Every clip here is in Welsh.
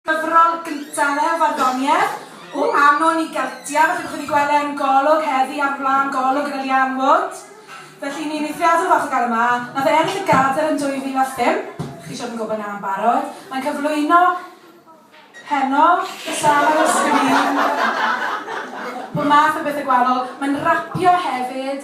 Cyfrol gyntaf ef, Farddoniaeth, O Anon i Geltiaid, a byddwch wedi gweld e yn Golwg heddi ar flaen Golwg gyda Leanne Wood. Felly, ni'n eithriadol falch o gael e 'ma. Nath e ennill y Gadair yn 2005, chi siŵr yn gwybod 'na yn barod. Mae'n cyflwyno heno, sâl ar y sgrin, pob math o bethe gwahanol. Mae'n rapio hefyd.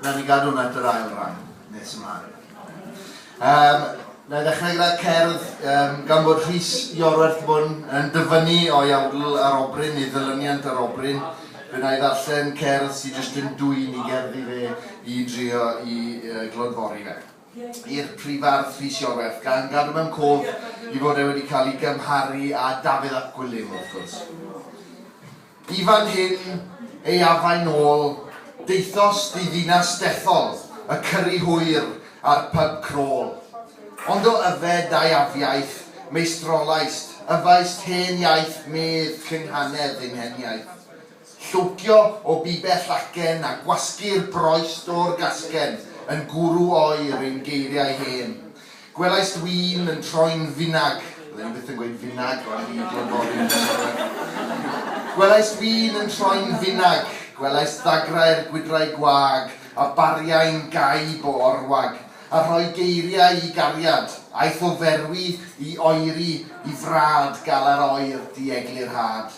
Rhaid ni gadw hwnna at yr ail ran nes ymlaen. Um, na i ddechrau gyda cerdd, um, gan bod Rhys Iorwerth Fwn yn dyfynnu o'i awdl ar obryn, ei ddylyniant ar obryn, fe na i ddarllen cerdd sy'n jyst yn dwy'n i gerddi fe i drio i uh, glodfori fe i'r prifardd Rhys Iorwerth, gan gadw mewn cof i fod e wedi cael ei gymharu â Dafydd ap Gwilym, wrth gwrs. I fan hyn ei afain ôl, daethos diddinas dethol, y cyrri hwyr a'r pyb crôl. Ond o yfed dau afiaith, meistrolaist, yfaist hen iaith medd llunghanedd ein heniaith. Llwcio o bibell acen a gwasgu'r broist o'r gasgen yn gwrw oer ein geiriau hen. Gwelais ddwyn yn troi'n finag, fydden i byth yn gweud finag ond fi di'r foddyn yn siarad. Gwelais ddwyn yn troi'n finag, gwelais ddagrau'r gwydrau gwag, a bariai'n gau bo orwag, a rhoi geiriau i gariad, aeth o ferwi i oeri i frad galar oer dieglurhad.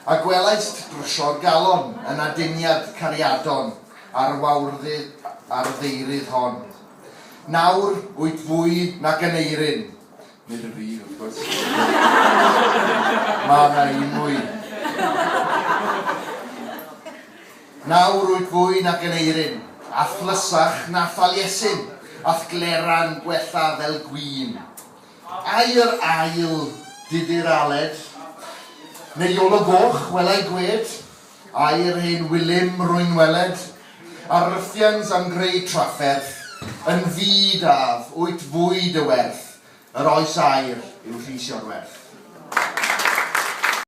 A gwelaist drwsio'r galon yn aduniad cariadon ar wawrddu ar ddeiryd hon. Nawr, wyt fwy nag yn eirin. Nid yn fi, wrth gwrs. Mae yna un mwy. Nawr, wyt fwy nag yn eirin. A thlysach na Thaliesin, a'th gleran gwella fel gwin. Ai yr ail diddir Aled? Neu Iolo Goch, welai gwed? Air ein Wilym rwy'n weled, a rhyffiant am greu trafferth, yn fyd af, wyt fwyd y werth, yr oes air yw rhys o'r werth.